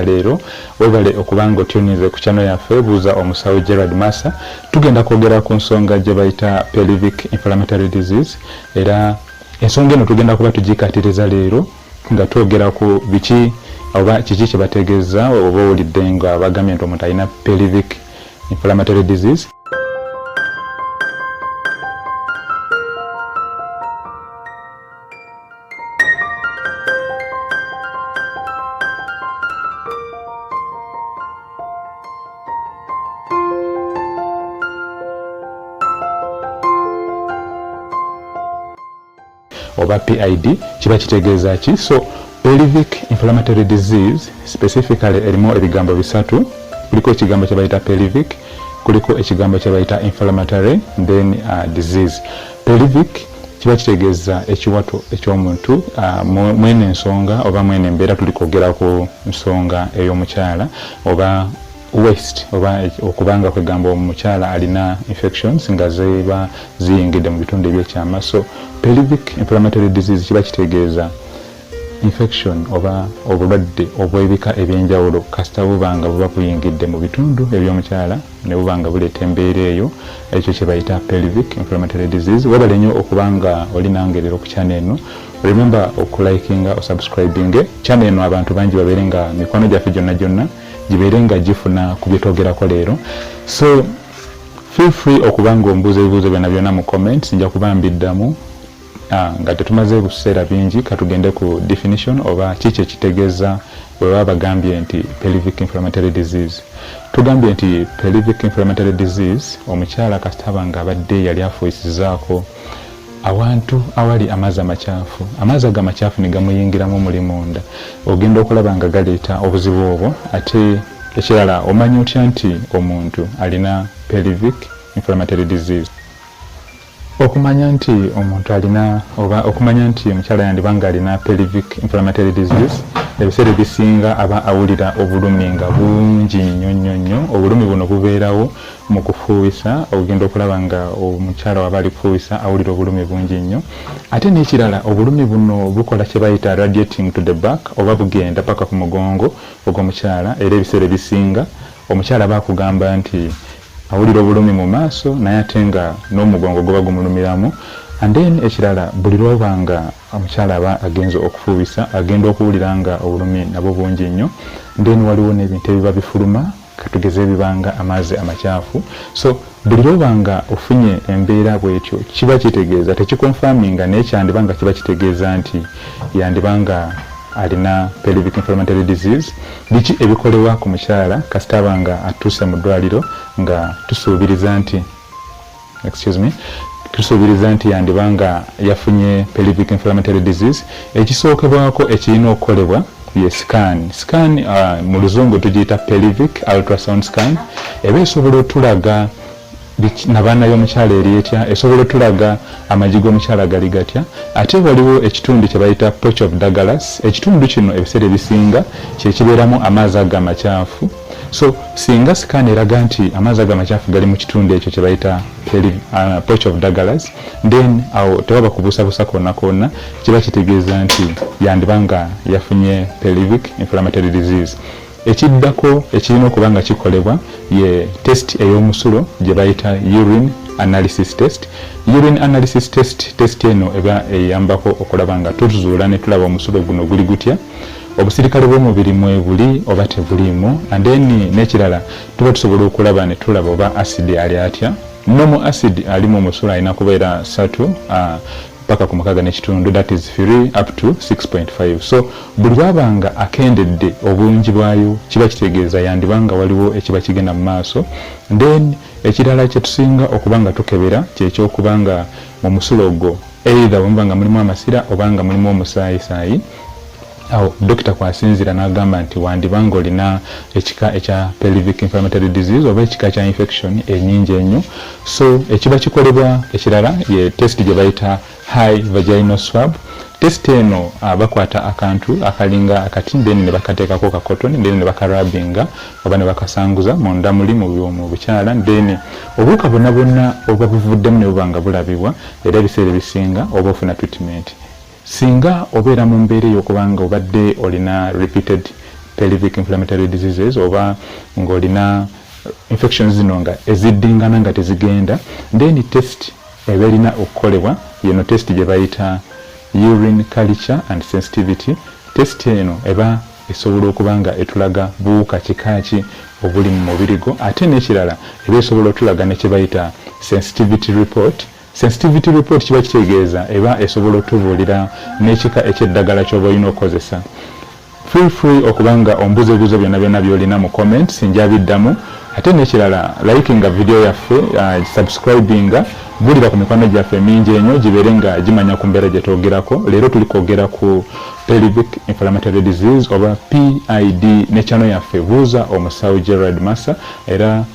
ya leero webale okuba nga otuninze ku channel yaffe buuza omusawo Gerard Massa tugenda kwogera ku nsonga gye bayita pelvic inflammatory disease era ensonga eno tugenda kuba tugikatiriza leero nga twogera ku biki oba kiki kye bategeeza oba owulidde nga bagambye nti omuntu alina pelvic inflammatory disease oba PID kiba kitegeeza ki so pelvic inflammatory disease specifically erimu ebigambo bisatu kuliko ekigambo kyebayita pelvic kuliko ekigambo kyebayita inflammatory then uh, disease pelvic kiba kitegeeza ekiwato eky'omuntu ah, mwene ensonga oba mwene embeera tuli kwogera ku nsonga ey'omukyala oba west oba okubanga kwegamba omukyala alina infections nga ziba ziyingidde mu bitundu ebyekyama so pelvic inflammatory disease kiba kitegeeza Infection oba obulwadde obw'ebika eby'enjawulo kasita buba nga buba buyingidde mu bitundu eby'omukyala ne buba nga buleeta embeera eyo, ekyo kye bayita pelvic inflammatory disease. Webale nnyo okuba nga oli nange leero ku channel eno. Remember oku likinga, o subscribinge channel eno abantu bangi babeere nga mikwano gyaffe gyonna gyonna gibeere nga gifuna ku bye twogerako leero. So feel free okuba nga ombuuza ebibuuzo byonna byonna mu comments nja kuba mbiddamu. Ah, nga tetumaze buseera bingi katugende ku definition oba kiki ekitegeza webaba bagambye nti pelvic inflammatory disease tugambye nti pelvic inflammatory disease omukyala kasitaba nga abadde yali afuisizaako awantu awali amazzi amakyafu amazzi ago amakyafu negamuyingiramu omuli munda ogenda okulaba nga galeeta obuzibu obwo ate ekirala omanya otya nti omuntu alina pelvic inflammatory disease Okumanya nti omuntu alina oba okumanya nti omukyala yandiba ng'alina pelvic inflammatory disease, ebiseera ebisinga aba awulira obulumi nga bungi nnyo nnyo nnyo. Obulumi buno bubeerawo mu kufuuwisa, ogenda okulaba ng'omukyala w'aba ali kufuuwisa awulira obulumi bungi nnyo. Ate n'ekirala obulumi buno bukola kye bayita radiating to the back oba bugenda paka ku mugongo ogw'omukyala era ebiseera ebisinga omukyala aba akugamba nti Awulira obulumi mu maaso naye ate nga n'omugongo guba gumulumiramu and then ekirala buli lwoba nga omukyala aba agenze okufuubisa agenda okuwulira nga obulumi nabwo bungi nnyo then waliwo n'ebintu ebiba bifuluma katugeze ebiba nga amaazi amakyafu so buli lwoba nga ofunye embeera bwetyo kiba kitegeeza tekikonfaminga naye kyandiba nga kiba kitegeeza nti yandiba nga alina pelvic inflammatory disease biki ebikolebwa ku mukyala kasita aba nga atuuse mu ddwaliro nga tusuubiriza nti excuse me tusuubiriza nti yandiba nga yafunye pelvic inflammatory disease ekisookebwako ekirina okukolebwa ye scan scan uh, mu luzungu tugiyita pelvic ultrasound scan eba esobola otulaga nabaana yomukyala eri etya esobola otulaga amagi gomukyala gali gatya ate waliwo ekitundu kyebayita poch of dagalas ekitundu kino ebiseera ebisinga kyekibeeramu amaazi ago amakyafu so singa sikaana eraga nti amaazi ago amakyafu gali mu kitundu ekyo kyebayita uh, poch of dagalas then awo tewaba kubuusabuusa kona kona kiba kitegeeza nti yandiba nga yafunye pelivic inflammatory disease Ekiddako ekirina okuba nga kikolebwa ye test ey'omusulo gye bayita urine analysis test. Urine analysis test, test eno eba eyambako okulaba nga tuzuula ne tulaba omusulo guno guli gutya, obusirikale bw'omubiri mwebuli oba tebuliimu and then n'ekirala tuba tusobola okulaba ne tulaba oba acid ali atya. Normal acid ali mu musulo alina kubeera ssatu, paka ku mukaga nekitundu that is free up to 6.5 so buli lwaba nga akendedde obungi bwayo kiba kitegeeza yandiba nga waliwo ekiba kigenda mu maaso then ekirala kyetusinga okuba nga tukebera kyekyokuba nga mu musulo gwo either wemuba nga mulimu amasira oba nga mulimu omusaayi saayi Awo dokita kw'asinziira n'agamba nti wandiba ng'olina ekika ekya pelvic inflammatory disease oba ekika kya infection enyingi enyo so ekiba kikolebwa ekirala ye test gye bayita high vaginal swab test eno ah, bakwata akantu akalinga akati then ne bakateekako ka cotton then ne bakarabinga oba ne bakasanguza munda muli mu bukyala then obuwuka bwonna bwonna obuba buvuddemu ne buba nga bulabibwa era ebiseera ebisinga oba ofuna treatment Singa obeera mu mbeera ey'okuba nga obadde olina repeated pelvic inflammatory diseases oba nga olina infections zino nga eziddingana nga tezigenda then test eba erina okukolebwa yeno test gyebayita urine culture and sensitivity test eno eba esobola okuba nga etulaga buwuka kika ki obuli mu mubiri gwo ate nekirala eba esobola otulaga ne kyebayita sensitivity report Sensitivity report kiba kitegeeza eba esobola otubuulira n'ekika eky'eddagala ky'oba olina okukozesa. Feel free okuba nga ombuza ebibuzo byonna byonna by'olina mu comments nja biddamu ate n'ekirala likinga video yaffe, subscribinga, buulira ku mikwano gyaffe emingi enyo gibeere nga gimanya ku mbeera gye twogerako. Leero tuli kwogera ku Pelvic Inflammatory Disease oba PID ne channel yaffe Buuza Omusawo Gerald Massa era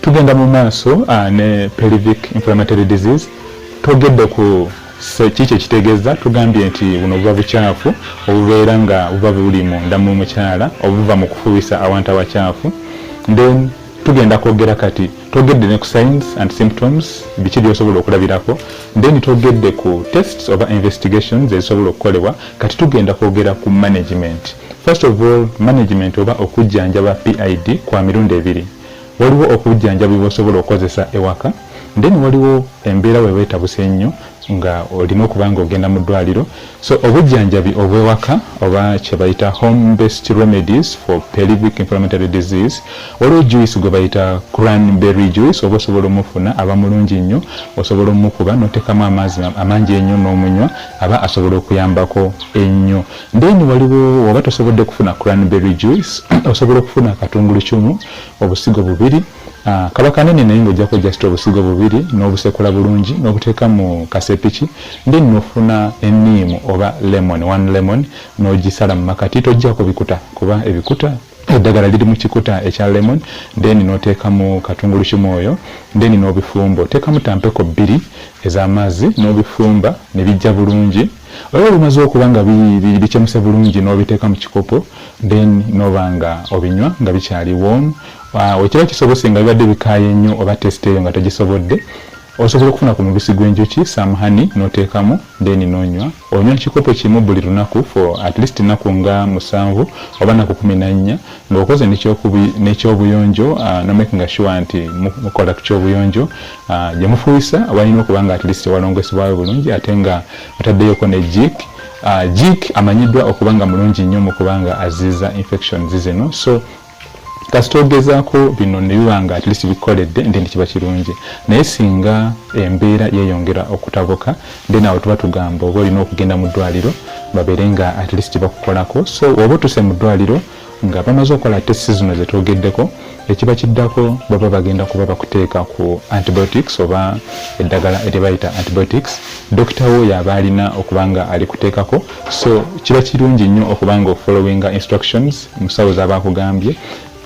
tugenda mu maaso ah, ne pelvic inflammatory disease togedde ku kiki ekitegeeza tugambye nti buno buba bukyafu obubeera nga buba buli munda mu mukyala obuva mu kufuwisa awantu awakyafu then tugenda kwogera kati twogedde ne ku signs and symptoms biki byosobola okulabirako then twogedde ku tests oba investigations ezisobola okukolebwa kati tugenda kwogera ku management first of all management oba okujjanjaba pid kwa mirundi ebiri waliwo okujjanjabibwa osobola okukozesa ewaka then waliwo embeera weba etabuse ennyo nga olina okuba nga ogenda mu ddwaliro so obujjanjabi obw'ewaka oba kye bayita home based remedies for pelvic inflammatory disease waliwo juice gwe bayita cranberry juice oba osobola omufuna aba mulungi nnyo osobola omukuba n'oteekamu amaazi amangi ennyo n'omunywa aba asobola okuyambako ennyo then waliwo oba tosobodde kufuna cranberry juice osobola okufuna akatungulucumu obusigo bubiri Ah, kaba kanene naye nga ojjako just obusigo bubiri n'obusekula bulungi n'obuteeka mu kasepiki then nofuna eniimu oba lemon one lemon n'ogisala mu makati tojjako bikuta kuba ebikuta eddagala liri mu kikuta ekya lemon then n'oteekamu katungulukimu oyo then n'obifumba oteekamu tampeko bbiri ez'amazzi n'obifumba ne bijja bulungi olaba bimaze okuba nga bikyemuse bulungi n'obiteeka mu kikopo then n'oba nga obinywa nga bikyali warm Bwe kiba kisobose nga bibadde bikaaye nnyo oba tesite eyo nga togisobodde, osobola okufuna ku mubisi gw'enjuki, some honey, n'oteekamu then n'onywa. Onywa kikopo kimu buli lunaku for at least ennaku nga musanvu oba nnaku kumi na nnya nga okoze n'ekyobuyonjo no makinga sure nti mukola ku kyobuyonjo gye mufuuyisa walina okuba nga at least walongosebwayo bulungi ate nga otaddeyoko ne jik jik amanyiddwa okuba nga mulungi nnyo mu kuba nga aziiza infections zino so kasita ogezaako bino ne biba nga at least bikoledde ndi nti kiba kirungi naye singa embeera yeeyongera okutabuka then awo tuba tugamba oba olina okugenda mu ddwaliro babeere nga at least bakukolako so oba otuse mu ddwaliro nga bamaze okukola testi zino zetwogeddeko ekiba kiddako baba bagenda kuba bakuteeka ku antibiotics oba eddagala eryebayita antibiotics dokita wo yaba alina okuba nga alikuteekako so kiba kirungi nnyo okuba nga ofollowinga instructions musawo zaba akugambye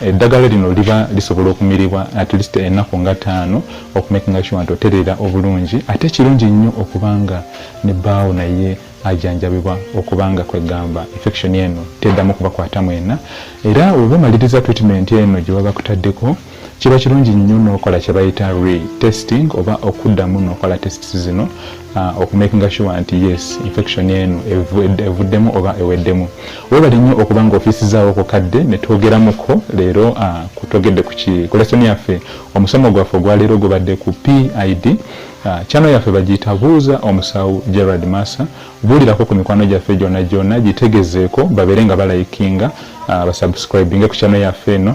eddagala eh, lino liba lisobola okumiribwa at least ennaku nga taano okumakinga sure nti otereera obulungi ate kirungi nnyo okubanga ne baawo naye ajanjabibwa okubanga kwegamba infection eno teddamu kubakwata mwena era oba omaliriza treatment eno gyewaba kutaddeko Kiba kirungi nnyo n'okola kye bayita re-testing oba okuddamu n'okola tests zino uh, okumakinga sure nti yes infection eno evuddemu oba eweddemu. Weebale nnyo okuba nga ofiisizaawo ku kadde ne twogeramuko leero uh, kutogedde ku lesoni yaffe. Omusomo gwaffe ogwa leero gubadde ku PID. Uh, channel yaffe bagiyita buuza omusawo Gerard Massa. Buulirako ku mikwano gyaffe gyonna gyonna gitegezeeko babeere nga balayikinga uh, basubscribinge ku channel yaffe eno.